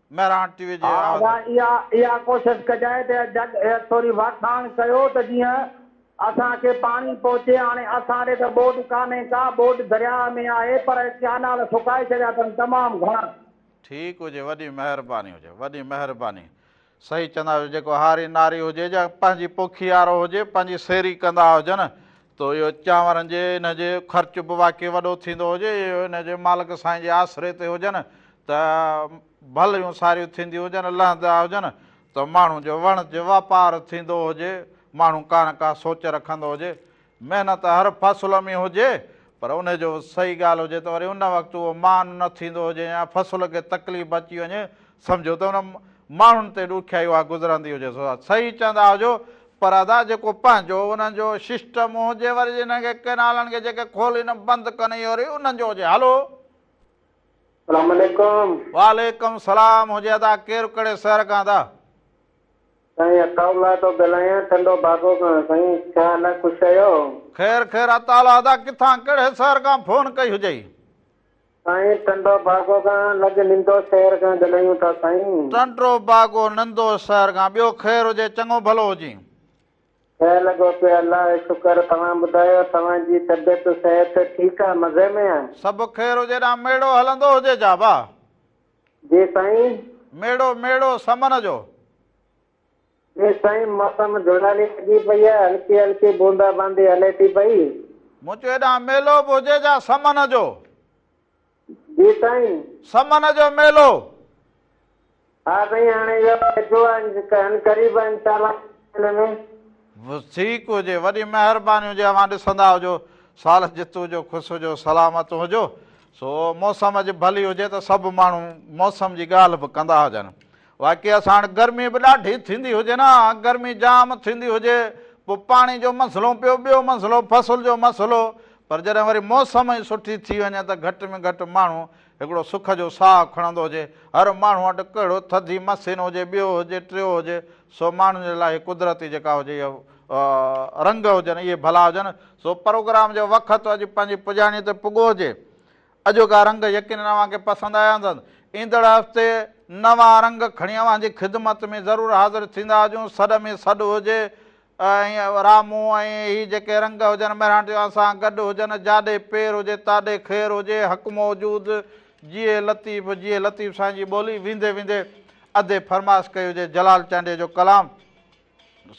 مهراڻ ٽي وي جي ها ادا اها اها ڪوشش ڪجائي ته جڳ ٿوري واکاڻ ڪيو ته جيئن اسان کي پاڻي پهچي هاڻي اسان ڏي ته ٻوڏ ڪانهي ڪا ٻوڏ درياهه ۾ آهي پر ڪيانال سڪائي ڇڏيا اٿن تمام گهڻا. ٺيڪ هجي وڏي مهرباني هجي وڏي مهرباني صحيح چوندا آهيو جيڪو هاري ناري هجي جا پنهنجي پوکي آرو هجي پنهنجي سيري ڪندا هجن تو اهو چانورن جي ان جي خرچ به واقعي وڏو ٿيندو هجي اهو ان جي مالڪ سائين جي آسري تي هجن ته ڀليون ساريون ٿينديون هجن لهندا هجن ته ماڻهو جو وڻ جي واپار ٿيندو هجي ماڻهو ڪا نه ڪا سوچ رکندو هجي محنت هر فصل ۾ هجي پر ان جو صحيح ڳالهه هجي ته وري ان وقت اهو مان نه ٿيندو هجي يا فصل کي تڪليف اچي وڃي سمجهو ته انهن ماڻهن تي ڏکيائي اها گذرندي هجي سو صحيح چوندا هجو پر ادا جيڪو پنهنجو انهن جو سسٽم هجي وري جنهن کي ڪينالن کي جيڪي کولي نه بند ڪن اهو ري انهن جو هجي هلو سلام عليڪم وعليڪم سلام هجي ادا ڪير ڪهڙي شهر کان ادا. سائين عطاء الله ٿو ڳالهايان ٽنڊو باگو کان سائين ڇا حال آ خوش آهيو. خير خير عطاء الله ادا ڪٿان ڪهڙي شهر کان فون ڪئي هجئي. سائين ٽنڊو باگو کان لڳ نندو شهر کان ڳلهايون ٿا سائين. ٽنڊو باگو نندو شهر کان ٻيو خير هجي چڱو ڀلو هجين. خير لڳو پيو الله جو شڪر توهان ٻڌايو توهان جي طبيعت صحت ٺيڪ آ مزي ۾ آ. سڀ خير هجي ڏانهن ميڙو هلندو هجي جابا. جي سائين. ميڙو ميڙو سمن جو. ايستائين موسم جهڙالي لڳي پئي آهي، هلڪي هلڪي بوندا باندي هلي ٿي پئي. مون چيو هيڏانهن ميلو به هجي جا سمن جو. جي سائين. سمن جو ميلو. ها سائين هاڻي اهو ويجهو آهي هن قريب آهي انشاء الله مهيني ۾. ٺيڪ هجي وڏي مهرباني هجي اوهان ڏسندا هجو سال جت هجو خوش هجو سلامت هجو سو موسم اڄ ڀلي هجي ته سڀ ماڻهو موسم جي ڳالهه به ڪندا هجن واقعي ساڻ گرمي به ڏاڍي ٿيندي هجي نه گرمي جام ٿيندي هجي پو پاڻي جو مسئلو پيو ٻيو مسئلو فصل جو مسئلو پر جڏهن وري موسم ئي سٺي ٿي وڃي ته گهٽ ۾ گهٽ ماڻهو هڪڙو سک جو ساهه کڻندو هجي هر ماڻهو وٽ ڪهڙو ٿڌي مسين هجي ٻيو هجي ٽيو هجي سو ماڻهن جي لاء قدرتي جيڪا هجي يا رنگ هجن اهي ڀلا هجن سو پروگرام جو وقت اڄ پنهنجي پڄاڻي تي پڳو هجي اڄوڪا رنگ يقينن اوهان کي پسند آيا هوندن. ايندڙ هفتي نوان رنگ کڻي اوهان جي خدمت ۾ ضرور حاضر ٿيندا هجون. سڏ ۾ سڏ هجي ۽ رامون ۽ هي جيڪي رنگ هجن مهراڻ جي اوهان سان گڏ هجن. جاڏي پير هجي تاڏي خير هجي. حق موجود جيئي لطيف جيئي لطيف سائين جي ٻولي ويندي ويندي ادي فرمائش ڪئي هجي جلال چانڊيي جو ڪلام.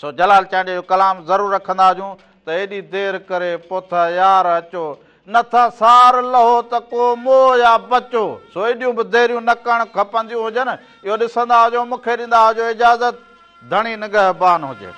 سو جلال چانڊيو جو ڪلام ضرور رکندا هجون ته ايڏي دير ڪري پوٿا يار اچو نه ٿا سار لهو ته ڪو مو يا بچو سو ايڏيون به ديريون نه ڪرڻ کپنديون هجن اهو ڏسندا هجو مون کي ڏيندا هجو اجازت ڌڻي نگهبان هجي